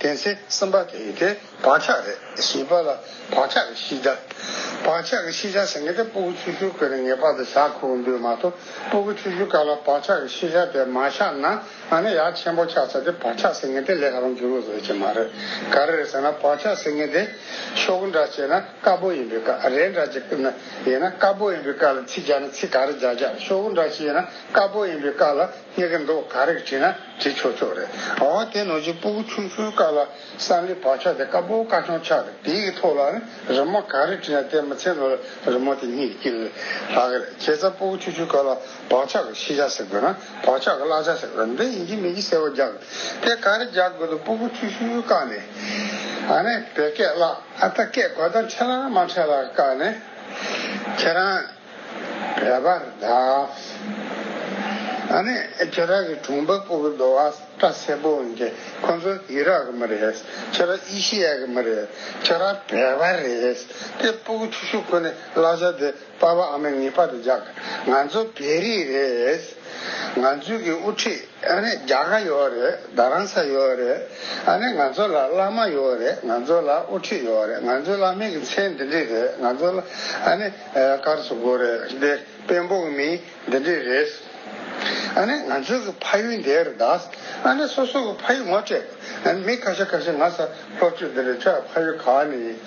དེ་ཚེ་སེམས་དཔའ་དེ་ཡི་དེ་བག་ཆགས་རེ་ཞིག་པ་ལ་བག་ཆགས་ཀྱི་ཤིས་བྱ། བག་ཆགས་ཀྱི་ཤིས་བྱ་ཟེར་མཁན་དེ་སྤོ་བོ་ཆུ་ཤུར་ཁོལ་ནས་ངེས་པར་དུ་བཞག་ཁུག་འདོད་མ་གཏོགས་སྤོ་བོ་ཆུ་ཤུར་ག་ལ་བག་ཆགས་ཀྱི་ཤིས་བྱ་དེ་མ་བཞག་ན་ང་ནི་ཡག་ཆེན་པོ་ཆགས་ཚར་དེ་བག་ཆགས་ཟེར་མཁན་དེ་ལས་ཧ་ལམ་འགྱུར་བ་བཟོ་ཆེད་མ་རེད། ག་རེ་རེད་ཟེར་ན་བག་ཆགས་ཟེར་མཁན་དེ་ཤོག་འདྲ་བྱས་ན་དཀར་པོ་ཡིན་པའི་དཀར་རས་འདྲ་བྱས་ན་ཡིན་ན་དཀར་པོ་ཡིན་པའི་དཀར་ལ་ཚིག་རྒྱག་ན་ཚིག་ག་རེ་རྒྱག་རྒྱག་ཤོག་བུ་འདྲ་བྱས་ན་དཀར་པོ་ཡིན་པའི་དཀར་ལ་སྙེག་གི་འདུག་ག་རེ་བྲིས་ན། དྲི་ཆོག་ཆོག་རེད་ཨང། འོ་དེ་ནོར་ཅིག་སྤུ་གུ་ཆུང་ཆུང་དཀར་ལ་སང་ལི་བག་ཆགས་དེ་དཀར་པོ་དཀར་ཆུང་ཆགས་དེ་དེའི་གི་ཐོག་ལ་ནི་རི་མོ་ག་རེ་བྲིས་ན་དེ་མི་ཚེ་ལོ་ལ་རི་མོ་དེ་གཉིས་ཀྱི་ལ་ལྷག་གི་རེད་ཁྱེད་ཚ་སྤུ་གུ་ཆུང་ཆུང་དཀར་ལ་བག་ཆགས་ཀྱི་ཤེས་བྱ་ཟེར་དགོས་ན་བག་ཆགས་ཀྱི་བཀླག་བྱ་ཟེར་དགོས་ན་འདི་ཡིན་གྱི་མིན་གྱི་གསལ་བོ་རྒྱག་དེ་ག་རེ་རྒྱག་དགོས་འདུག་སྤུ་གུ་ཆུང་ཆུང་དཀར་ནི་ཨ་ནི་བོད་སྐད་བཀླག་ཨ་ད་སྐད་གོ་ད་འཕྲད་ལ་མ་འཕྲད་ལ་དཀར་ནི་ཁྱེད་རང། ར་བར་གདའ། ཨ་ནི་ཁྱེད་རང་གི་གྲོང་པ་སྤོ་བོ་ལོ་ཨ་སྐྲ་སེར་པོ་འོན་ཀྱི་ཁོང་ཚོ་ཨི་རག་གི་མི་རེད། ཁྱེད་རང་ཨི་ཤི་ཡ་གི་མི་རེད། ཁྱེད་རང་བལ་བ་རེད། དེ་སྤོ་བོ་ཆུ་ཤུག་ཁོ་ནི་གླ་ཆ་དེ་དཔའ་བ་ཨ་མི་ངི་པ་དང་འཇག་ང་ཚོ་བལ་རིགས་རེད། ང་ཚོའི་གི་དབུ་ཁྲིད་ཨ་ནི་རྒྱ་ག་ཡོད་རེད་རྡ་རང་ས་ཡོད་རེད། ཨ་ནི་ང་ཚོ་ལ་བླ་མ་ཡོད་རེད་ང་ཚོ་ལ་དབུ་ཁྲིད་ཡོད་རེད་ང་ཚོའི་བླ་མའི་གི་མཚན་འདི་འདྲི་རེད་ང་ཚོ་ལ་ཨ་ནི། དཀར་སུ་དགོས་རེད་དེ་དཔོན་པོ་མི་འདི་འདྲས་རེད། ཨ་ནེ་ང་ཚོ་གི་ཕ་ཡུལ་འདི་རེད་ད། ཨ་ནེ་སོ་སོ་གི་ཕ་ཡུལ་ངོ་སྤྲད་དགོས་ཨ་མི་ཁ་ཤ་ཁ་ཤ་ང་ས་ལྷོ་ཆུ་འདི་རེད་ཁྱོད་ཕ་ཡུལ་ག་ནས་ཡིན་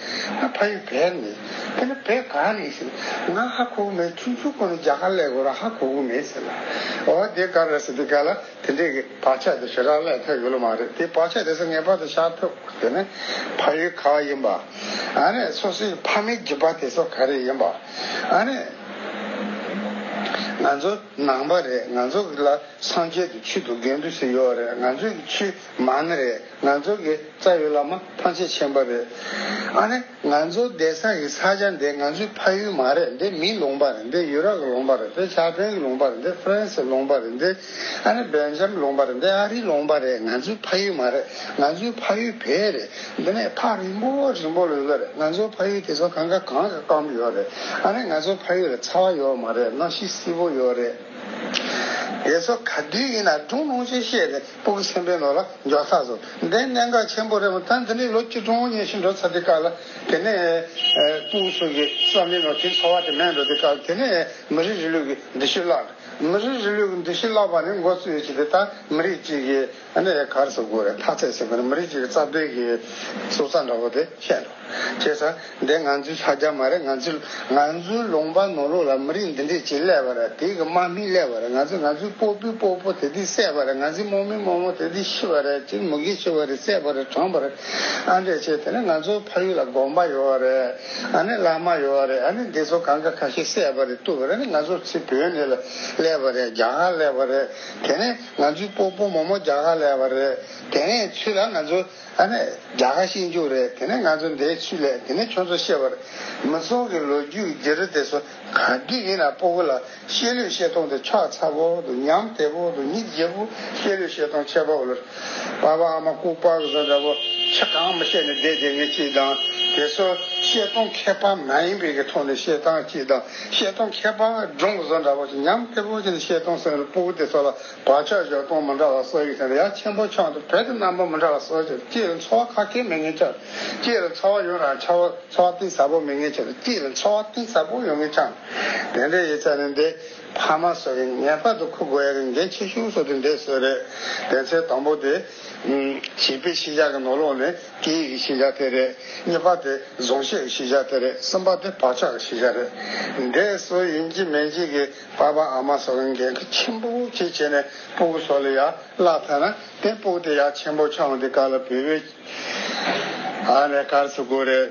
ཨ་ཕ་ཡུལ་བལ་ནས་ཡིན་ཨ་ནེ་བལ་ག་ནས་ཡིན་ཟེར་ང་ཧ་གོ་གི་མེད་ཆུང་ཆུང་ཁོ་ནས་རྒྱ་གར་ལས་གོ་ར་ཧ་གོ་གི་མེད་ཟེར་ལ་ཨོ་དེ་ག་རེད་ཟེར་དེ་ག་ལ། དེ་འདྲའི་བག་ཆགས་དེ་ཞེ་དྲག་བསླད་ཐལ་ཡོད་ལོ་མ་རེད་དེ་བག་ཆགས་དེ་ཚོ་ངེས་པར་དུ་ཤར་ཐུབ་དགོས་དེ་ནི་ཕ་ཡུལ་ག་ཡིན་པ། ཨ་ནི་སོ་སོའི་ཕ་མེས་རྒྱུད་པ་དེ་ཚོ་ག་རེ་ཡིན་པ། ཨ་ནི་ང་ཚོ་ནང་པ་རེད་ང་ཚོ་ལ་སངས་རྒྱས་དུ་ཆུ་དུ་རྒན་དུ་ཞིག་ཡོད་རེད་ང་ཚོའི་ཆུ་མ་ནི་རེད་ང་ཚོ་གི་རྩ་ཡོད་ལ་མ་ཐང་ཆེ་ཆེན་པ་རེད་ཨ་ནི། ང་ཚོ་བསྡད་ས་ཡི་ས་ཆ་འདི་ང་ཚོའི་ཕ་ཡུལ་མ་རེད་འདི་མིའི་ལུང་པ་རེད་འདི་ཡུ་རོབ་ཀྱི་ལུང་པ་རེད་འདི་ཕྱག་ཕྲེང་གི་ལུང་པ་རེད་འདི་ཧྥི་རན་སིའི་ལུང་པ་རེད་འདི་ཨ་ནི་སྦེལ་ཇམ་ལུང་པ་རེད་འདི་ཨ་རིའི་ལུང་པ་རེད་ང་ཚོའི་ཕ་ཡུལ་མ་རེད་ང་ཚོའི་ཕ་ཡུལ་བལ་རེད་འདི་ནས་ཐག་རིང་པོ་རིང་པོ་ལོས་ལོས་རེད་ང་ཚོའི་ཕ་ཡུལ་དེ་ཚོ་གང་ག་གང་གི་སྐམ་པོ་ཡོད་རེད་ཨ་ནི་ང་ཚོའི་ཕ་ཡུལ་ལ་ཚ་བ་ཡོད་མ་རེད་གནམ་གཤིས་བསིལ་པོ་ཡོད་རེད། དེ་ཚོ་ག་དུས་ཡིན་ན་སྒྲུང་གནང་ཆེད་བཤད་རེད། སྤུ་གུ་སེམས་དཔའི་ནོར་ལ་འཇོག་ཚར་སོང། འདི་གནད་འགག་ཆེན་པོ་རེད་མོད་ད་འདི་ནས་ལོ་གཅིག་ཀྲུང་ཧྭ་ཉིན་ཞིག་འགྲོ་ཚར་དུས་སྐབས་ལ་དེ་ནས་སྤུ་གུ་སོགས་ཀྱི་བསམ་པའི་ནོར་དེའི་འཚོ་བ་དེ་མེད་འགྲོ་དུས་སྐབས་དེ་ནས་མི་རིགས་རིང་ལུགས་ཀྱི་འདུ་ཤེས་བརླག་འགྲོ། མི་རིགས་རིང་ལུགས་ཀྱི་འདུ་ཤེས་བརླག་པ་ནི་འགོ་བཙུགས་ཡོད་ཅེས་དེ་ལྟར་མི་རིགས་གཅིག་གི་གར་སོ་དགོས་རེད་ཐག་ཚད་ཟིན་པ་ནི་མི་རིགས་གཅིག་གི་རྩ་དོན་གྱི་སྲོག་རྩ་འདྲ་བོ་དེ་བཤད་འགྲོ། ཁྱེད་ས་འདི་ང་ཚོའི་ས་རྒྱ་མ་རེད་ང་ཚོས་ང་ཚོའི་ལུང་པ་ནོར་ལུག་ལ་མི་རིགས་འདི་འདྲས་ཇི་སླད་པ་རེད་དེ་གི་དམག་མི་སླད་པ་རེད་ང་ཚོས་ང་ཚོའི་སྤོ་པོའི་སྤོ་པོ་དེ་དུས་བསད་པ་རེད་ང་ཚོའི་རྨོ་མིའི་རྨོ་མོ་དེ་དུས་ཤི་བ་རེད་ཅེས་མུ་གེ་ཤི་བ་རེད་བསད་པ་རེད་གྲོངས་པ་རེད་ཨ་འདྲས་བྱས་དེ་ནི་ང་ཚོའི་ཕ་ཡུལ་ལ་དགོན་པ་ཡོད་བ་རེད་ཨ་ནི་བླ་མ་ཡོད་བ་རེད་ཨ་ནི་འདི་ཚོ་གང་ག་ཁ་ཤས་བསད་པ་རེད་བཏུལ་བ་རེད་ནི་ང་ཚོར་ཚེ་བོད་འདི་ལ་སླད་པ་རེད་རྒྱ་གར་སླད་པ་རེད་དེ་ནི་ང་ཚོའི་སྤོ་པོ་རྨོ་མོ་རྒྱ་གར་སླད་པ་རེད་དེ་ནི་ཚུལ་ལ་ང་ཚོའི། ཨ་མས། རྒྱ་གར་ཤེས་འཇུག་རེད་དེ་ནས་ང་ཚོ་འདའི་ཆུ་ལས་དེ་ནས་ཁྱོད་ཚོ་ཤེས་པར། མི་ཚོང་གི་ལོ་རྒྱུས་ཀྱི་རྒྱུ་རུ་དེ་ཚོ་གང་གི་ཡིན་ན་སྤོ་བོ་ལ་ཤེས་ལོས་ཤེས་སྟོང་དེ་ཕྱག་ཚ་བོ་དུ་ཉམས་དེ་བོ་དུ་ཉིད་བརྗེ་བོ་ཤེས་ལོས་ཤེས་སྟོང་ཆད་པ་བོ་ལོར། པ་བ་ཨ་མ་ལྐུག་པ་གི་བཟོ་འདྲ་བོ་ཁྱི་གང་མི་ཤེས་ནས་བསྡད་དེ་ངས་ཅིག་དང་དེ་ཚོ་ཤེས་སྟོང་མཁས་པ་མ་ཡིན་པའི་གི་ཐོག་ནས་ཤེས་སྟངས་ཅིག་དང་ཤེས་སྟོང་མཁས་པ་སྒྲུང་གི་བཟོ་འདྲ་བོ་ཁྱི་ཉམས་དེ་བོ་ཅི་ནས་ཤེས་སྟོང་སེང་རི་སྤོ་བོ་དེ་ཚོ་ལ། བག་ཆགས་བཞག་སྟོང་མི་འདྲ་བ་སོགས་ཡོད་ཀྱང་ཡ་ཆེན་པོ་ཆགས་འདུག་བོད་དུ་རྣམ་པ་མི་འདྲ་བ་སོགས་ཀྱིས་སྐྱེས་ལ་འཚོ་བ་ཁ་སྐད་མེད་ངེས་ཀྱང་སྐྱེས་ལ་འཚོ་བ་ཡོད་རང་འཚོ་བ་གཏིང་ཟབ་པོ་མེད་ངེས་ཀྱང་སྐྱེས་ལ་འཚོ་བ་གཏིང་ཟབ་པོ་ཡོད་ངེས་ཀྱང། དེ་འདྲའི་ཡིག་ཚགས་ནི་འདི་ཕ་མ་སོགས་ཀྱིས་ངེས་པར་དུ་ཁུར་དགོས་ཡ་རིགས་འགལ་ཆེ་ཤོས་སོགས་དེ་འདྲས་སོགས་རེད། དེ་ཚེ་དང་པོ་དེ། བྱིས་པའི་ཤེས་བྱ་གི་ནོར་ལོག་ནི་སྐད་ཡིག་གི་ཤེས་བྱ་དེ་རེད། གཉིས་པ་དེ་གཟུང་བཤད་ཀྱི་ཤེས་བྱ་དེ་རེད་གསུམ་པ་དེ་བག་ཆགས་ཀྱི་ཤེས་བྱ་རེད། འདྲས་སོ་ཡིན་གྱི་མེད་གྱི་གི། འཕགས་པ་ཨ་མ་སོགས་ལ་འགན་ཁུར་ཆེན་པོ་བྱེད་བྱས་ནས་སྤོ་བོ་སོགས་ལ་ཡར་བརླག་ཚར་ན་དེ་སྤོ་དེ་ཡར་ཆེན་པོ་ཆང་དེ་ག་ལ་བུད་བོད་ཨ་རེད་གར་སོ་དགོ་རེད་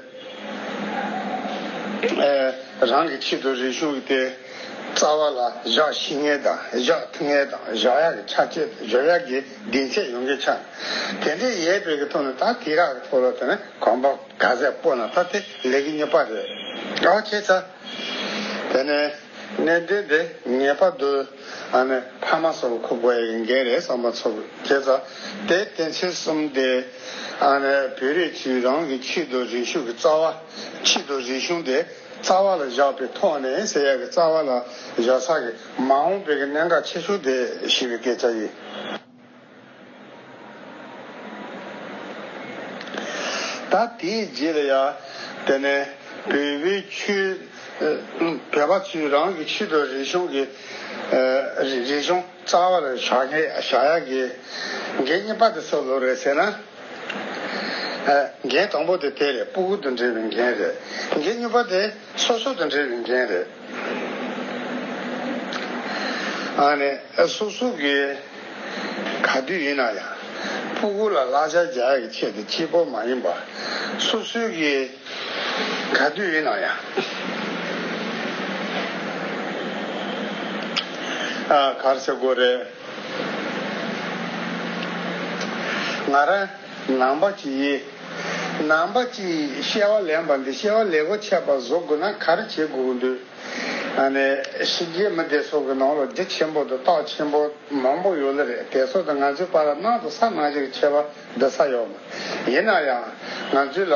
ཨེ་རང་གི་ཆེད་དུ་རེ་ཞུགས་དེ་རྩ་བ་ལ་བཞག་ཤི་ངེ་དང་བཞག་ཐུ་ངེ་དང་བཞག་ཡག་གི་ཆ་བྱེད་དང་བཞག་ཡག་གི་སྡིངས་ཆས་ཡོང་གི་ཆ་དེ་འདྲའི་ཡས་བོད་གི་ཐོག་ནས་ད་དེ་རག་གི་ཐོག་ལ་ཐོན་ན་གང་པ་ག་ཟེ་སྤོ་ན་ད་དེ་ལས་གི་ཉོ་པ་རེད་ཨ་བྱས་ཚར་དེ་ནས། གནད་དོན་དེ་ངེས་པར་དུ་ཨ་མའི་ཕ་མ་སོགས་ཁུག་པ་ཡིན་གྱི་རེད་བསམ་པ་ཚོར་སྐྱེས། ཚ་དེ་གཏན་ཚིགས་གསུམ་སྟེ། ཨ་མས་བོད་རིགས་ཚོས་རང་གི་ཕྱི་དུ་རིག་གཞུང་གི་རྩ་བ། ཕྱི་དུ་རིག་གཞུང་དེ་རྩ་བ་ལ་བཞག་པའི་ཐོག་ནས་ཟེར་ཡག་གི་རྩ་བ་ལ་བཞག་ས་གི་མ་འོངས་པའི་གི་གནད་འགག་ཆེ་ཤོས་དེ་ཞིག་རེད་སྐད་ཆ་ཡིན། ད་དེའི་རྗེས་ལ་ཡང་དེ་ནས་བོད་པའི་ཆོས་བོད་པ་ཚོས་རང་གི་ཆོས་དང་རིག་གཞུང་གི་རིག་གཞུང་རྩ་བར་བཞག་ཡ་གི། འགན་གཉིས་པ་དེ་སོགས་ལོ་རེད་ཟེར་ན། འགན་དང་པོ་དེ་དེ་རེད་སྤུ་གུ་དང་འབྲེལ་བའི་འགན་རེད། འགན་གཉིས་པ་དེ། སོ་སོ་དང་འབྲེལ་བའི་འགན་རེད། སོ་སོ་གིས་ག་དུས་ཡིན་ན་ཡང་སྤུ་གུ་ལ་ལག་ཆ་རྒྱག་གི་ཆེད་དུ་སྐྱིད་པོ་མ་ཡིན་པར། སོ་སོ་གིས་ག་དུས་ཡིན་ན་ཡང་གར་ཆ་དགོས་རེད། ང་རང་ནང་པ་གྱིས། ནང་པ་གཅིག་གཤེ་བ་ལེན་པ་འདི་གཤེ་བ་ལེ་བོ་ཆད་པ་བཟོ་དགོས་ན་ག་རེ་བྱེད་དགོས་འདོད། ཤི་རྗེས་མི་དེ་ཚོ་གི་ནང་ལོ་རྒྱུ་ཆེན་པོ་དང་རྟགས་ཆེན་པོ་མང་པོ་ཡོད་ལ་རེད་དེ་ཚོ་དང་ང་ཚོའི་བར་ལ་ནང་དུ་ས་ནང་བཞིན་ཁྱད་པར་འདི་ས་ཡོད་མོད། ཡིན་ན་ཡང་ང་ཚོའི་ལ་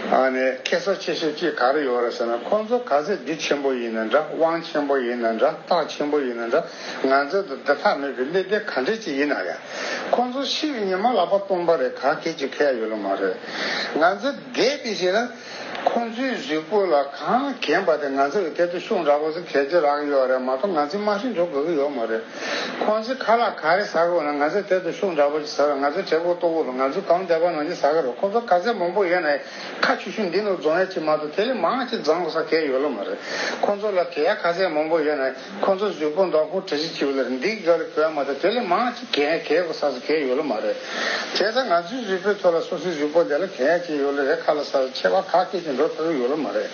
ཁྱད་གསོ་ཆེ་ཤོས་གཅིག་ག་རེ་ཡོད་རེད་ཟེར་ན་ཁོང་ཚོ་ག་ཚད་རྒྱུ་ཆེན་པོ་ཡིན་ན་འདྲ་དབང་ཆེན་པོ་ཡིན་ན་འདྲ་རྟགས་ཆེན་པོ་ཡིན་ན་འདྲ་ང་ཚོས་འདི་ལྟ་ཐག་མེད་པའི་གནད་དོན་ག་འདྲས་ཅིག་ཡིན་ན་ཡང། ཁོང་ཚོ་ཕྱི་ཡི་ཉི་མ་ལག་པ་སྟོང་པ་རེད་ག་གེ་ཅིག་ཁེལ་ཡོད་ལ་མ་རེད། ང་ཚོས་འདས་པའི་ཞིག་ལ། ཁོང་ཚོའི་གཟུགས་པོ་ལ་གང་གན་པ་དེ་ང་ཚོ་ཡི་ཐད་དུ་ཤུགས་འདྲ་པོ་ཟིག་ཁེལ་གྱི་རག་ཡོད་རེད་མ་གཏོགས་ང་ཚོས་དམའ་ཧྲིང་འགྲོ་དགོས་ཀྱི་ཡོད་མ་རེད། ཁོང་ཚོས་ཁ་ལག་ག་རེ་ཟ་དགོས་ན་ང་ཚོའི་ཐད་དུ་ཤུགས་འདྲ་པོ་ཅིག་ཟ་རོགས་ང་ཚོའི་གྲལ་སྒོ་ལྟོ་བུ་རུ་ང་ཚོས་གང་འདས་པ་ནང་བཞིན་ཟ་གི་རེད་ཁོང་ཚོ་ག་ཚད་མང་པོ་ཡོད་ན་ཡང་ཁ་ཆུ་ཤུ་འདི་ནོར་རྫོང་ཡ་གཅིག་མ་གཏོགས་དེ་ལས་མང་ཅིག་བརྫངས་དགོས་ས་ཁེལ་ཡོད་ལ་མ་རེད། ཁོང་ཚོ་ལ་དེ་ཡ་ག་ཚད་མང་པོ་ཡོད་ན། ཁོ་ཚོ་གཟུགས་པོ་འདྲ་ཁོ་དྲི་ཟིག་གཅིག་ལ་འདི་ག་ལ་བོད་མ་ད་དེ་ལས་མང་ཅིག་གས་གས་པ་ས་ས་གས་ཡོད་ལ་མ་རེད། དེ་ད་ང་ཚོའི་གཟུགས་པོའི་ཐོག་ལ་སོ་སོའི་གཟུགས་པོ་དེ་ལ་གས་ཅིག་ཡོད་ལ་རེད་ཁ་ལ་ས་ས་ཆེ་བ་ཁག་གས་ཅིག་འགྲོ་ཕོད་པོ་ཡོད་ལ་མ་རེད།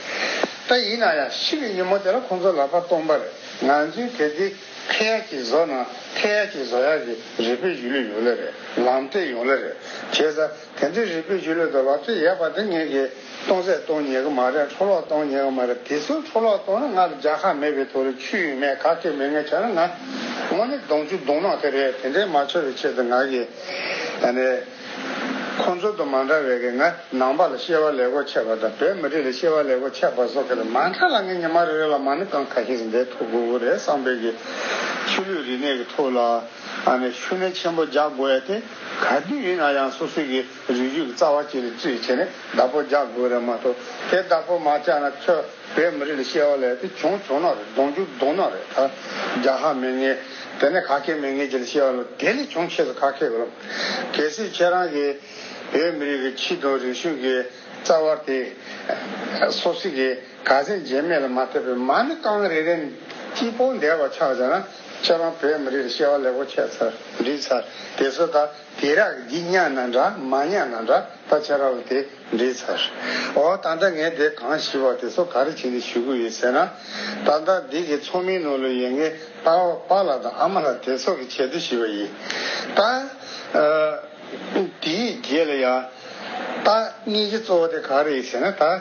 ད་ཡིན་ན་ཡང་ཤི་བའི་ཉིན་མོ་དེ་ལ་ཁོ་ཚོ་ལག་པ་སྟོང་པ་རེད་ང་ཚོའི་གས་དེ་ཁས་ཡག་ཅིག་བཟོ་ན་ཁས་ཡག་ཅིག་བཟོ་ཡག་གི་རེད་བོད་གཞུ་ལུས་ཡོད་ལ་རེད་ལམ་སྟོད་ཡོང་ལ་རེད་དེ་ད། དེ་འདྲའི་རིག་པའི་རྒྱུ་ལས་དོ་ལག་ཚོས་ཡས་པ་འདི་ངེད་ཀྱིས་སྟོང་ཟད་གཏོང་ཉེ་གི་མ་རེད་འཕྲོ་བརླག་གཏོང་ཉེ་གི་མ་རེད་དེ་ཚོའི་འཕྲོ་བརླག་གཏོང་ན་ང་ལ་རྒྱག་ཁ་མེད་པའི་ཐོག་ལ་ཆུ་ཡོད་མེད་ག་གེ་མེད་ངས་བྱ་ན་ང་དངོས་གནས་གདོང་ཆུ་གདོང་ནག་དེ་རེད་དེ་འདྲའི་མ་འཆོར་བའི་ཆེད་དུ་ང་གིས་ད་ནས་ཁོང་ཚོ་དང་མ་འདྲ་བས་ཀྱི་ང་ནང་པ་ལ་ཤེས་བ་ལེགས་པོ་ཆེ་བ་དང་བོད་མི་རིགས་ལ་ཤེས་བ་ལེགས་པོ་ཆེ་བ་སོགས་ཀྱི་ལ་མ་འདྲ་ལ་ངས་ཉི་མ་རེ་རེ་ལ་མ་ནི་གང་ག་ཞིག་འདེད་ཐུབ་དགོས་ཀྱི་རེད་བསམ་པས་ཀྱི་ཆུ་ལུད་རིག་གནས་ཀྱི་ཐོག་ལ་ཨ་ནས་ཤུ་ནན་ཆེན་པོ་རྒྱག་དགོས་ཨེ་ཏེ། ག་དུས་ཡིན་ན་ཡང་སོ་སོའི་གི་རིགས་རྒྱུད་ཀྱི་རྩ་བ་བཅད་ནས་བཅོས་བྱས་ནས་བདག་པོ་རྒྱག་དགོས་རེད་མ་གཏོགས་དེ་བདག་པོ་མ་བཅག་ན་ཁྱོད་བོད་མི་རིགས་ལ་ཤེས་བ་ལས་དེ་བྱུང་བྱུང་ནོག་རེད་གདོང་རྒྱུག་གདོང་ནོག་རེད་ད་རྒྱ་ཧ་མེད་ངེས་དེ་ནས་ག་གེ་མེད་ངེས་ཀྱི་ལ་ཤེས་བ་ལ་དེ་ལས་བྱུང་ཆེས་སུ་ཁ་ཁེག་རོགས་གལ་སྲིད་ཁྱེད་རང་གི་བོད་མི་རིགས་ཀྱི་ཁྱི་དང་རིག་གཞུང་གི་རྩ་བ་དེ་སོ་སི་གི་ག་ཟན་རྗེས་མེད་ལ་མ་ཐེབས་པའི་མ་ནི་རྐང་རེ་རེ་ནས་སྐྱིད་པོ་འདས་པ་ཆགས་བྱས་ན། ཁྱེད་རང་བོད་མི་རིགས་ལ་ཤེས་བ་ལེགས་པོ་ཁྱད་ཚར་འདྲིས་ཚར་དེ་ཚོ་ད་དེ་རག་འདི་གཉའ་ན་འདྲ་མ་གཉའ་ན་འདྲ་ད་ཆ་རག་ལ་དེ་འདྲིས་ཚར་འོ་ད་ལྟ་ངས་དེ་གང་ཞིབ་པ་དེ་ཚོ་ག་རེ་བྱེད་འདི་ཞུ་གི་ཡོད་ཟེར་ན་ད་ལྟ་འདི་གི་ཚོགས་མི་ནོར་ལུག་ཡེ་འགའི་ད་བ་པ་ལ་དང་ཨ་མ་ལ་དེ་ཚོ་གི་བྱེད་དུ་ཞིབ་པ་ཡིན་ད་དེའི་རྗེས་ལ་ཡང་ད་གཉིས་ཀྱི་གཙོ་བོ་དེ་ག་རེ་ཡིན་ཟེར་ན་ད།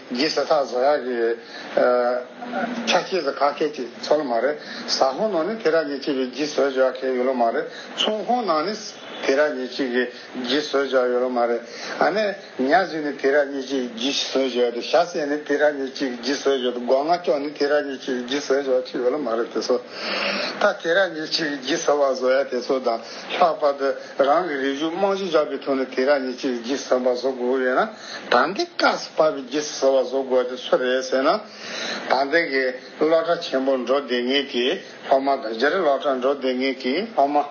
རྗེ་ས་ཐག་བཟོ་ཡག་གི་རེད། ཆ་སྐྱེས་སུ་ཁ་སྐད་ཅིག་ཚོ་ལོ་མ་རེད། ཟ་ཧོང་ནང་ནི་དེ་ར་ཉེ་ཆེ་བའི་རྗེ་བཟོས་བྱ་མཁན་ཡོད་ལོ་མ་རེད། ཚུང་ཧོང་ནང་ནི་དེ་ར་ཉེ་ཆེ་གི་རྗེ་བཟོས་བྱ་ཡོད་ལོ་མ་རེད། ཨ་ནེ། ཉག་གཟིག་ནི་དེ་ར་ཉེ་ཆེ་གི་རྗེ་བཟོས་བྱ་ཡོད་དེ་ཤ་ཟད་ནི་དེ་ར་ཉེ་ཆེ་གི་རྗེ་བཟོས་བྱ་དེ་སྒོ་ང་ཅོག་ནི་དེ་ར་ཉེ་ཆེ་གི་རྗེ་བཟོས་བྱ་ཆེ་ཡོད་ལོ་མ་རེད་དེ་ཚོ་ད་དེ་ར་ཉེ་ཆེ་གི་རྗེ་བཟོ་བ་བཟོ་ཡག་དེ་ཚོ་དང་ལྷག་པར་དུ་རང་གི་རིགས་གཞུང་དམངས་གཞུང་ཆགས་པའི་ཐོག་ནས་དེ་ར་ཉེ་ཆེ་གི་རྗེ་བཟོ་བ་བཟོ་དགོས་ཀྱི་ཡོད་ན། དང་ཏིག་ཀ་སི་པ་བི་རྗི་སི་ཟེར་བ་བཟོ་དགོས་དེ་སུ་རེད་ཟེར་ན། དང་ཏིག་གི་སློབ་གྲྭ་ཆེན་པོ་འགྲོ་བདེ་ངེས་ཀྱི་སློབ་མ་དང་རྗེ་རི་སློབ་གྲྭ་འགྲོ་བདེ་ངེས་ཀྱི་སློབ་མ།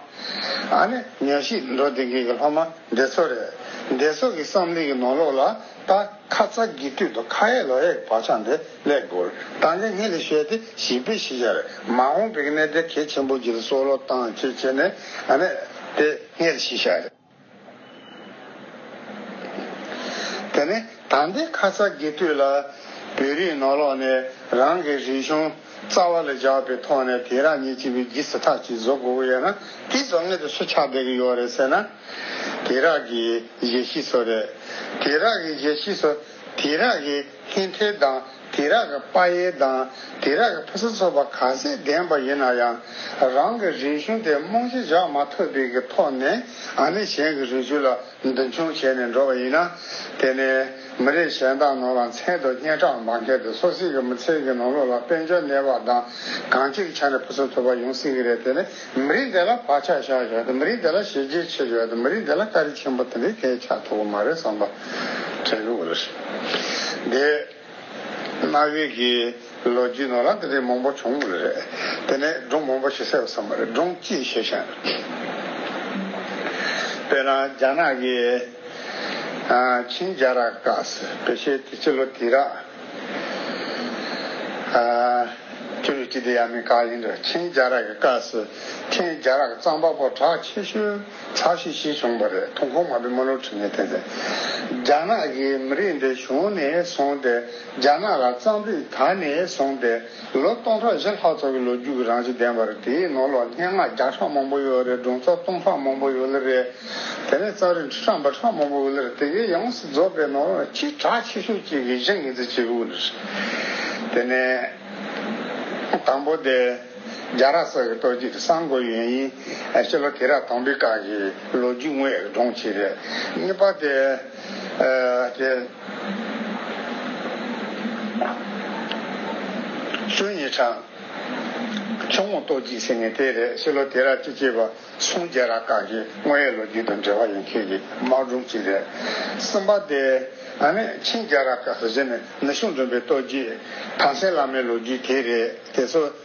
ཨ་ནི་ཉོན་ཤིས་འགྲོ་བདེ་ངེས་ཀྱི་སློབ་མ་འདི་ཚོ་རེད། འདི་ཚོ་གི་བསམ་གླིང་གི་ནོར་ལོག་ལ་ད་ཁ་ཚ་དགི་དུས་དུ་ཁ་ཧད་ལོ་ཧད་བག་ཆགས་འདི་སླད་དགོས་དང་ལེ་ངྷི་ལི་ཤོད་དེ་ཞིག་པི་ཤི་ཤར་མ་ཧོང་པིག་ནེ་དེ་གེ་ཆེན་པོ་རྗེ་རི་སོ་ལོ་ཏང་ཆེ་ཆེ་ནེ་ཨ་ནེ་དེ་ངྷི་ལི་ཤི་ཤར། དེ་ནི་ད་ལྟའི་ཁ་ཚ་དགེ་དུས་ལ་བོད་རིགས་ནོར་ལོག་ནས་རང་གི་རིག་གཞུང་རྩ་བ་ལ་བཞག་པའི་ཐོག་ནས་དེ་རག་ཉེས་ཅི་བའི་གིས་ཐག་ཅིག་བཟོ་དགོས་ཀྱི་ཡོད་ན་དེ་བཟོ་མཁན་དེ་སུ་ཆགས་བསྡད་ཀྱི་ཡོད་རེད་ཟེར་ན། དེ་རག་གི་གཞས་ཤིས་སོ་རེད། དེ་རག་གི་གཞས་ཤིས་སོ་དེ་རག་གི། ཧིན་ཐའི་དང་དེ་རག་གི་པ་ཡེ་དང་དེ་རག་གི་ཕུ་ས་སོགས་པ་ག་ཚད་ལྡན་པ་ཡིན་ན་ཡང་རང་གི་རིག་གཞུང་དེ་རྨོངས་གཞི་བཞག་མ་ཐུབ་པའི་གི་ཐོག་ནས་ཨ་ནི་གཞན་གི་རིག་གཞུང་ལ་མདུན་མཆོང་བྱས་ནས་འགྲོ་བ་ཡིན་ན་དེ་ནི་མི་རིགས་གཞན་དག་ནང་ལ་མཚན་དུ་སྙན་གྲགས་མ་འཁེལ་ཏེ་སོ་སྲིད་གི་མི་ཚེའི་གི་ནང་ལུགས་ལ་དཔལ་འབྱོར་གནས་བབ་དང་གང་ཅིར་ཆ་ནས་ཕུ་ས་ཐུབ་པ་ཡོང་སྲིད་གི་རེད་དེ་ནི། མི་རིགས་དེ་ལ་བག་ཆགས་བཞག་ཡོད་དམ་མི་རིགས་དེ་ལ་ཞེ་སྐྱེས་ཆེ་ཡོད་དམ་མི་རིགས་དེ་ལ་དཀའ་རིས་ཆེན་པོ་དེ་འདྲའི་གས་ཆག་ཐུབ་པོ་མ་རེད་བསམ་པ་དྲན་ལུགས་རེད། དེས་གནའ་བོའི་གི་ལོ་རྒྱུས་ནང་ལ་དེ་འདྲའི་མང་པོ་བྱུང་མུལ་རེད། དེ་ནས་སྒྲུང་མང་པོ་ཞིག་གསལ་བ་བསམ་པ་རེད་སྒྲུང་གཅིག་བཤད་ཤེས། དཔེར་ན་རྒྱ་ནག་གི་ཆིན་རྒྱ་ར་ཀ་སི་བེ་ཤེ་དེ་སྤྱི་ལོ་དེ་ར། ཁྱོད་ཀྱི་སྐྱིད་དེ་ཡ་མི་གང་ཡིན་འདྲ་ཁྱེད་རྒྱ་རག་གི་བཀའ་སི་ཁྱེད་རྒྱ་རག་གཙང་པ་པོ་གྲགས་ཆེ་ཤོས་གྲགས་ཤིག་ཤིག་བྱུང་པ་རེད་ཐུང་ཁོང་མ་བི་མ་ལོ་ཁྲི་ངས་ཐེན་ཏེ་རྒྱ་ནག་གི་མི་རིགས་འདི་བྱུང་ནས་བཟུང་སྟེ་རྒྱ་ནག་ལ་གཙང་སྡིག་ད་ནས་བཟུང་སྟེ། ལོ་སྟོང་ཕྲག་བཞི་ལྷག་ཙམ་གྱི་ལོ་རྒྱུས་ཀྱི་རང་བཞིན་ལྡན་པ་རེད། དེའི་ནང་ལོ་སྙན་ངག་བརྒྱ་ཕྲག་མང་པོ་ཡོད་རེད་སྒྲུང་རྩ་གཏུམ་ཕྲག་མང་པོ་ཡོད་ལ་རེད། དེ་ནས་རྩ་རིག་ཁྲི་ཕྲག་འབུམ་ཕྲག་མང་པོ་ཡོད་ལ་རེད་དེ་གའི་ཡོངས་སུ་རྫོགས་པའི་ནང་ལོ་ཆིག་ཕྲག་ཆེ་ཤོས་གཅིག་གིས་གཞི་ངེས་འཛིན་བྱེད་དགོས་ལ་རེད། དེ་ནས་དང་པོ་དེ་རྒྱ་ར་སར་གྱི་ལྟོ་འཇིག་གི་གསང་དགོས་ཡོན་ཡིན། ཕྱི་ལོ་དེ་ར་དང་པི་ཀ་གི་ལོ་རྒྱུས་དངོས་ཀྱི་སྒྲུང་ཆེ་རེད། གཉིས་པ་དེ། སུ་ཡིས་དྲངས། ཆུ་ངོགས་ལྟོ་འཇིགས་ཟེར་ནི་དེ་རེད་ཕྱི་ལོ་དེ་རག་ཅི་བྱས་པ་སུང་རྒྱལ་རག་བཀག་གི་དངོས་ཡོད་ལོ་རྒྱུས་དང་འབྲེལ་བ་ཡོད་མཁན་གྱི་དམག་སྒྲུང་ཅིག་རེད་བསམ་པ་དེ་ང་ནི་ཆིང་རྒྱལ་རག་བཀག་ཟེར་ནི་ནུ་ཞོ་འཛོམས་པའི་ལྟོ་འཇིགས་ཐང་སེང་བླ་མའི་ལོ་རྒྱུས་དེ་རེད་དེ་ཚོ།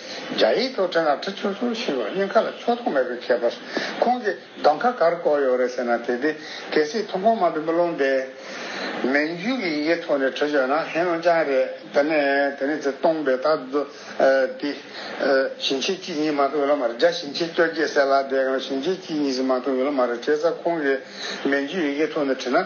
རྒྱ་ཡིག་ཐོག་ཕྲེང་ལ་ཁྲི་ཆུང་ཆུང་ཞིག་ལ་སྙིང་ཁ་ལ་ཕྱོགས་མཐོང་མེད་པའི་ཁྱད་པར། ཁོང་གིས་གདོང་ཁ་གར་བསྐོར་ཡོད་རེད་ཟེར་ན་དེ་དུས་གལ་སྲིད་མཐོང་སྤང་མ་བུ་མོ་ལུང་བདེ། མན་རྒྱུད་ཀྱི་ཡི་གེ་ཐོག་ནས་བྲི་ཞོག་ན་ཧེ་རུང་ཅང་རེད་དེ་ནས་དེ་ནས་ཚེ་སྟོང་པའི་ད་དུ། དེ། ཞིང་ཆེན་གཅིག་གཉིས་མ་གཏོགས་ཡོད་ལབ་མ་རེད་རྒྱ་ཞིང་ཆེན་བཅོ་བརྒྱད་གསལ་ལ་དེའང་ཞིང་ཆེན་གཅིག་གཉིས་ཟིག་མ་གཏོགས་ཡོད་ལབ་མ་རེད་བྱས་ཙང་ཁོང་གིས་མན་རྒྱུད་ཡི་གེ་ཐོག་ནས་བྲིས་ན།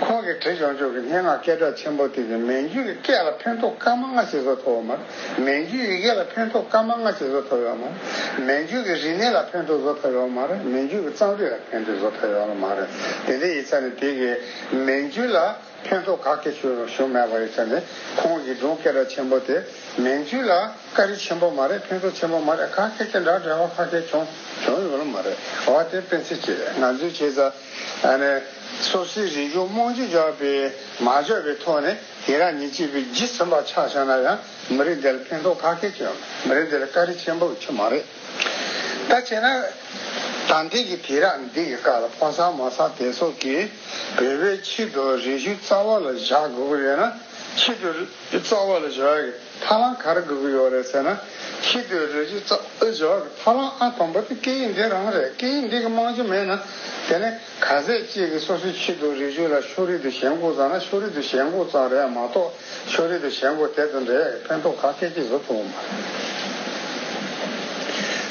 ཁོང་གིས་བྲིས་ཆོག་ཆོག་གི་སྙན་ངག་སྐད་གྲགས་ཆེན་པོ་དེ་ནི་མན་ཇུའི་སྐད་ལ་ཕན་ཐོགས་སྐར་མ་ལྔ་ཞིག་བཟོ་ཐུབ་ཡོད་མ་རེད། མན་ཇུའི་ཡི་གེ་ལ་ཕན་ཐོགས་སྐར་མ་ལྔ་ཞིག་བཟོ་ཐུབ་ཡོད་མ་རེད། མན་ཇུའི་གི་རིག་གནས་ལ་ཕན་ཐོགས་བཟོ་ཐུབ་ཡོད་མ་རེད། མན་ཇུའི་གི་གཙང་སྦྲིད་ལ་ཕན་ཐོགས་བཟོ་ཐུབ་ཡོད་མ་རེད། དེ་འདྲའི་ཡིག་ཆ་ནི་དེ་གའི་མན་ཇུའི་ལ་ཕན་ཐོགས་ག་གེ་ཞུ་མེད་པ་ཡིག་ཆ་ནི་ཁོང་གིས་སྒྲུང་སྐད་གྲགས་ཆེན་པོ་དེ་མན་ཇུའི་ལ་དཀའ་རིགས་ཆེན་པོ་མ་རེད་ཕན་ཐོགས་ཆེན་པོ་མ་རེད་ག་གེ་དེ་འདྲ་འབྲེལ་བ་ག་གེ་བྱུང་ཡོད་མ་རེད། འོ་དེ་སྤེན་ཚེ་ཁྱེད་ང་ཚོའི་བྱས་ཙང། སོ་སོའི་རིག་གཞུང་རྨོངས་གཅོད་རྒྱག་པའི་མ་འཇོག་པའི་ཐོག་ནས་དེ་རང་ཉིད་གཅིག་པུས་ཇི་ཚོམ་པ་ཆགས་བཞག་ན་ཡང་མི་རིགས་འདི་ལ་ཕན་ཐོག་ཁ་ཁད་ཆོད་མི་རིགས་འདི་ལ་དཀའ་རིས་ཆེན་པོ་ཆོད་མ་རེད་ད་བྱས་ན། དམ་འདི་གི་དེ་རག་འདི་གི་བཀག་ལ་ཕོ་སར་མོ་སར་དེ་སོགས་ཀྱིས་བོད་པའི་ཕྱི་དུ་རིག་གཞུང་རྩ་བ་ལ་བཞག་དགོས་ཀྱི་ཡོད་ན་ཕྱི་དུ་རྩ་བ་ལ་བཞག། ཐ་ལང་གར་དགོས་ཀྱི་ཡོད་རེད་ཟེར་ན། ཁྱི་ལྟོས་རེད་ཅེས་རྩ་འུར་བྱེད་པ་ཐ་ལང་ཨ་དང་པོ་དེ་སྐད་ཡིག་འདི་རང་རེད་སྐད་ཡིག་འདི་གི་རྨང་གཞི་མེད་ན། དེ་ནི་ག་ཟས་གཅིག་གིས་སོ་སོའི་ཁྱི་ལྟོས་རེ་བཅོས་ལ་ཕྱོགས་རིས་དུ་ཞེན་དགོས་ཙང་ན་ཕྱོགས་རིས་དུ་ཞེན་དགོས་ཙང་རེད་མ་གཏོགས་ཕྱོགས་རིས་དུ་ཞེན་དགོས་དེ་ཙམ་རེད་ཕན་ཐོགས་ཁ་སྐད་ཀྱིས་བཟོ་ཐུབ་པ་མ་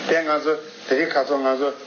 རེད་དེ། ང་ཚོ་དེ་རིགས་ཁ་ཚོ་ང་ཚོ།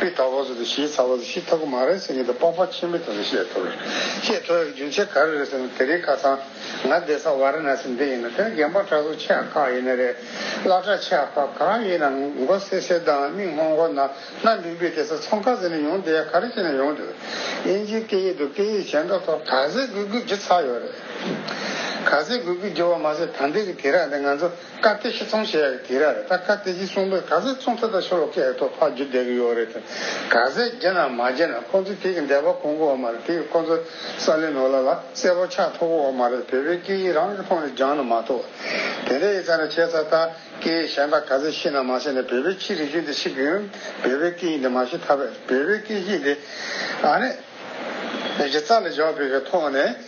པི་ཏཱ་བ་སུ་དེ་ཤིའི་ཚ་བ་སུ་ཤི་ཐ་གུ་མ་རེ་སེ་ངེ་དེ་པགས་པ་ཆེན་པོའི་དོན་དུ་བཤད་ཐུབ། ཤེས་ཐུབ་ཡང་རྒྱུན་ཆད་ག་རེ་རེད་ཟེར་ན་དེ་རིང་ཁ་སང་ང་སྡེ་ས་བ་རེ་ན་སེ་འདི་ཡིན་ན་དེ་ནི་རྒན་པ་གྲྭ་གཟུགས་ཆེ་ཡང་ཁག་ཡིན་ནི་རེད་བླ་གྲྭ་ཆེ་ཡང་ཁག་གང་ཡིན་ན་མགོ་སེར་སེར་དང་མིག་སྔོ་སྔོ་ནག་ནག་འབིག་འབིག་དེ་ས་ཚོང་ཁ་ཟེར་ནས་ཡོང་དུས་ཡ་ག་རེ་བྱས་ནས་ཡོང་དུས་དབྱིན་ཇིའི་སྐད་ཡིག་དུ་སྐད་ཡིག་གཞན་དག་ཐོག་ག་ཟེ་གུ་གུ་བགྱི་ཚར་ཡོད་རེད། ག་ཟེ་གུ་གུ་བགྱི་བ་མ་ཟད་ད་འདི་གི་དེ་ར་འདི་ང་ཚོ། བཀའ་གཏེར་ཤི་ཚོང་བྱས་ཡག་དེ་རར་ད་བཀའ་གཏེར་ཤི་ཚོང་པས་ག་ཟེ་ཚོང་ཐ་ད་ཤོ་ལོ་ཀའི་ཐོག་ཕག་རྒྱུ་བསྡད་གི་ཡོག་རེད་དེ་ག་ཟེ་རྗེ་ན་མ་རྗེ་ན་ཁོང་ཚོས་དེ་གི་འདས་པ་གོང་གི་འོག་མ་རེད་དེ་གི་ཁོང་ཚོ་ས་ལེ་ནོ་ལ་ལ་གསལ་པོ་ཆགས་ཐོག་གི་འོག་མ་རེད་བོད་པའི་སྐད་ཡིག་རང་གི་ཐོག་ནས་སྦྱང་ན་མ་ཐོག་དེ་འདྲ་ཡི་ཚ་ན་ཆད་ཚ་ད་སྐད་ཡིག་གཞན་དག་ག་ཟེ་ཤི་ན་མ་ཤི་ན་བོད་པའི་ཕྱི་རི་ཆུ་འདི་ཤི་གི་ཡོད་བོད་པའི་སྐད་ཡིག་འདི་མ་ཤི་ཐ་བས་བོད་པའི་སྐད་ཡིག་འདི་ཨ་ནི་རྗེ་རྩ་ལ་བཞག་བོད་པའི་ཐོག་ནས།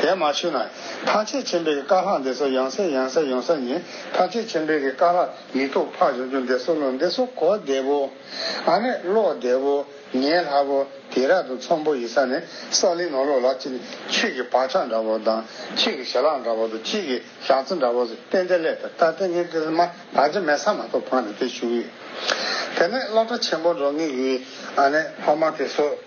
དེས་མ་ཆུད་ན། ཐམས་ཅད་མཁྱེན་པའི་བཀའ་ལྷག་འདི་སོགས་ཡང་གསལ་ཡང་གསལ་ཡོང་ས་ཉིད་ཐམས་ཅད་མཁྱེན་པའི་བཀའ་ལྷག་ཡིག་ཐོག་ཕག་བཞོ་བྱུང་འདི་སོགས་ལོ་འདི་སོགས་གོ་བདེ་བོ། ཨ་ནེ་ཀློག་བདེ་བོ། ཉན་སླ་བོ། དེ་རག་ཏུ་ཚོམ་བུ་ཡི་ས་ནི་ས་ལི་ནོ་ལོ་ལགས་ཀྱིས་ནི་ཁྱེད་ཀྱི་བག་ཆགས་འདྲ་བོ་དང་ཁྱེད་ཀྱི་ཞལ་ལག་འདྲ་བོ་དང་ཁྱེད་ཀྱི་ཞག་རྩི་འདྲ་བོ་ཟེར་བསྟན་དེ་སླད་དུ་ད་ལྟའི་ངའི་ཏིལ་མར་བག་ཆགས་མེད་ས་མ་གཏོགས་བག་ནི་དེ་བཞུགས་ཡོད། དེ་ནས་སློབ་གྲྭ་ཆེན་པོ་འགྲོ་ངེས་ཀྱི་ཨ་ནེ་ཕ་མ་དེ་སོགས།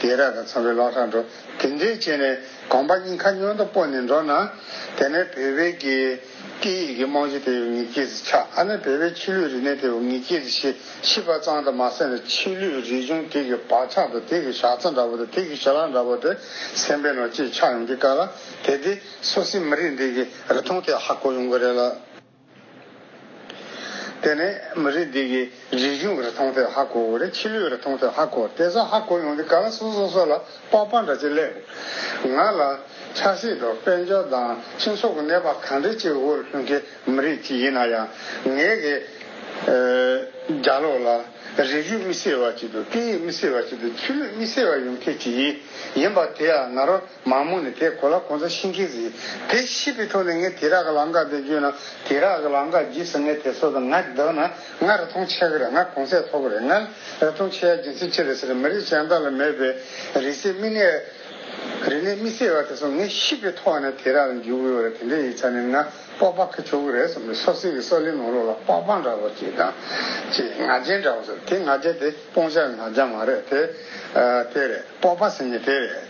དེས་ར་དང་འཚམས་པའི་ལག་ཁྲ་འགྲོ། དེ་འདྲས་བྱས་ནས་གོམ་པ་གཉིས་ཁ་སྨྱོན་དུ་སྤོ་ནས་འགྲོ་ན། དེ་ནས་བོད་པའི་གི་ཀི་ཡིག་གི་རྨང་གཞི་དེ་ཡོ་ངི་སྐྱེས་ཚེ་ཆགས་ཨ་ནི་བོད་པའི་ཕྱི་ལུས་རིག་གནས་དེ་ཡོ་ངི་སྐྱེས་ཚེ་ཤི་ཤི་བ་གཙང་དུ་མ་སེམས་པའི་ཕྱི་ལུས་རིག་གཞུང་དེ་གི་བག་ཆགས་དང་དེ་གི་ཞག་རྩ་འདྲ་བོ་དང་དེ་གི་ཞལ་ལག་འདྲ་བོ་དེ་སེམས་པའི་ནང་ཅི་ཆགས་ཡོང་གི་དཀའ་ལ་དེ་དེ་སུ་སི་མི་རིགས་འདི་གི་རི་ཐོང་དེ་ཧ་གོ་ཡོང་གི་རེད་ལ། དེ་ནས་མི་རིགས་འདི་གི་རིག་གཞུང་གི་རིག་ཐང་ཐད་ཧ་གོ་དགོས་རེད་ཕྱི་ལོའི་རིག་ཐང་ཐད་ཧ་གོ་དེ་ཚོ་ཧ་གོ་ཡོང་དུས་ག་ལ་སོ་སོ་སོ་ལ་པགས་པགས་འདྲ་ཅིག་སླེབས་འདུག་ང་ལ་ཆགས་སྲེད་དུ་དཔལ་འབྱོར་དང་སྤྱི་ཚོགས་ཀྱི་གནས་བབ་གང་འདྲ་ཅིག་དབུལ་ལྷོད་མཁན་མི་རིགས་ཅིག་ཡིན་ན་ཡང་ངའི་གི་རྒྱ་ལོག་ལ་རིག་གཞུང་དམིགས་བསལ་བ་ཅིག་ཏུ་སྐད་ཡིག་དམིགས་བསལ་བ་ཅིག་ཏུ་ཆོས་ལུགས་དམིགས་བསལ་བ་ཡོང་མཁན་ཅིག་ཡིན་པ་དེ་ཡང་ང་རང། མ་མོ་ནི་དེ་གོ་ལ་གོང་ས་ཤིང་ཁེ་ཟི། དེ་ཤི་བི་ཐོ་ནི་ངའི་དེ་རག་གི་ལང་ཀ་དེ་བརྗོད་ན་དེ་རག་གི་ལང་ཀ་བརྗིད་སོ་ངའི་དེ་སོ་དང་ང་བདག་ན་ང་ར་ཐུང་ཆེ་གི་རེད་ང་གོང་ཚད་ཐོ་གི་རེད་ང་ར་ཐུང་ཆེ་ཡ་རྒྱུ་མཚན་ཅི་རེད་ཟེར་ན་མི་རིགས་གཞན་དག་ལ་མེད་པའི་རིག་སེ་མི་ནས་རིག་ནས་མི་སེ་བ་དེ་སོ་ངའི་ཤི་བི་ཐོ་ནི་དེ་རག་ལ་འཇུག་གི་ཡོ་རེད་དེ་འདྲའི་ཡིག་ཆ་ནི་ང་པོག་པག་གི་ཆོ་གི་རེད་སོ་མི་སོ་སི་གི་སོ་ལི་ནོ་ལོ་ལ་པག་པག་འདྲ་བོ་ཅིག་དང་ཅིག་ང་རྒྱལ་འདྲ་བོ་སོ་དེ་ང་རྒྱལ་དེ། སྤོང་བྱ་ནང་བྱ་མ་རེད་དེ། དེ་རེད། སྤོབས་པ་ཟེར་ནི་དེ་རེད།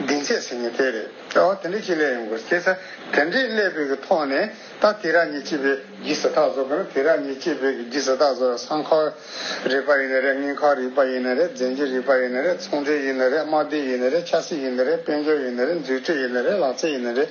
སྡིངས་ཆས་ཟེར་ནི་དེ་རེད། ཨོ་དེ་འདྲའི་ཅིག་ཀླད་ཡོང་དགོས། དེ་ཚེ་དེ་འདྲའི་ཀླད་བོད་ཀྱི་ཐོག་ནས་ད་དེ་ར་ཉིད་ཅིག་བོད་ཀྱི་ཟེར་ཐག་བཟོ་དགོས་ན་དེ་ར་ཉིད་ཅིག་བོད་ཀྱི་ཟེར་ཐག་བཟོ་བའི་སྲང་ཁག་རིག་པ་ཡིན་ནི་རེད་ངན་ཁག་རིག་པ་ཡིན་ནི་རེད་རྫས་འགྱུར་རིག་པ་ཡིན་ནི་རེད་ཚོང་འབྲེལ་ཡིན་ནི་རེད་དམག་སྡེ་ཡིན་ནི་རེད་ཆབ་སྲིད་ཡིན་ནི་རེད་དཔལ་འབྱོར་ཡིན་ནི་རེད་མཛུད་ཁྲིད་ཡིན་ནི་རེད་ལག་རྩལ་ཡིན་ནི་རེད།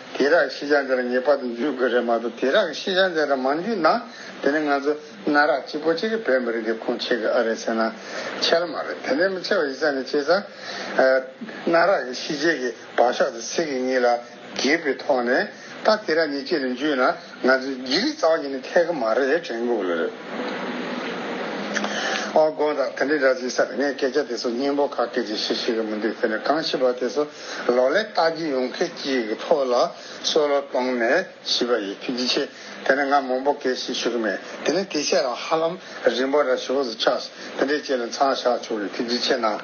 དེ་རག་ཤི་ཆ་འདི་ལ་ངེས་པར་དུ་འཇུས་དགོས་རེད་མ་གཏོགས་དེ་རག་ཤི་ཆ་འདི་ལ་མ་འཇུས་ན་དེ་ནི་ང་ཚོ་གནའ་རག་གཅིག་པོ་གཅིག་གི་བོད་མི་རིགས་འདི་ཁུངས་ཆེ་གི་ཨ་རེད་ཟེར་ན་འཆལ་མ་རེད་དེ་འདྲའི་མི་ཆེ་བ་ཡིག་ཚགས་ནས་ཆེ་ས་གནའ་རག་གི་ཤི་རྗེས་ཀྱི་བག་ཤོག་དེ་ཚིག་གི་གཉིས་ལ་གྱེས་པའི་ཐོག་ནས་ད་དེ་རག་ཉིས་གཅིག་ལ་འཇུས་ན། ང་ཚོས་རྒྱུ་ལི་ཙང་གིས་ནི་ཐད་ཀར་མ་རེད་དྲན་དགོས་ལོས་རེད། ཨ་དགོན་དང་དེ་འདྲའི་ར་བཟི་སར་ངས་སྐད་ཆ་དེ་ཚོ་སྙན་པོ་ཁ་སྐད་ཀྱིས་ཤིག་ཤིག་གི་མི་འདུག་དེ་ནས་གང་བྱིས་པ་དེ་ཚོ་ལོག་ལས་བལྟ་རྒྱུ་ཡོང་མཁན་གཅིག་གི་ཐོག་ལ་བསོད་བློ་གཏོང་ནས་བྱིས་པ་ཡི་ཐུགས་རྗེ་ཆེ་དེ་ནི་ང་མང་པོ་སྐད་ཤིག་ཤོད་གི་མེད་དེ་ནི་དེ་ཆད་རང་ཧ་ལམ་རིང་པོ་ར་ཤི་བོ་ཟི་ཆགས་དེ་འདྲའི་ཆེད་ལ་མཚང་བཞག་ཆོག་གི་ཐུགས་རྗེ་ཆེ་གནང།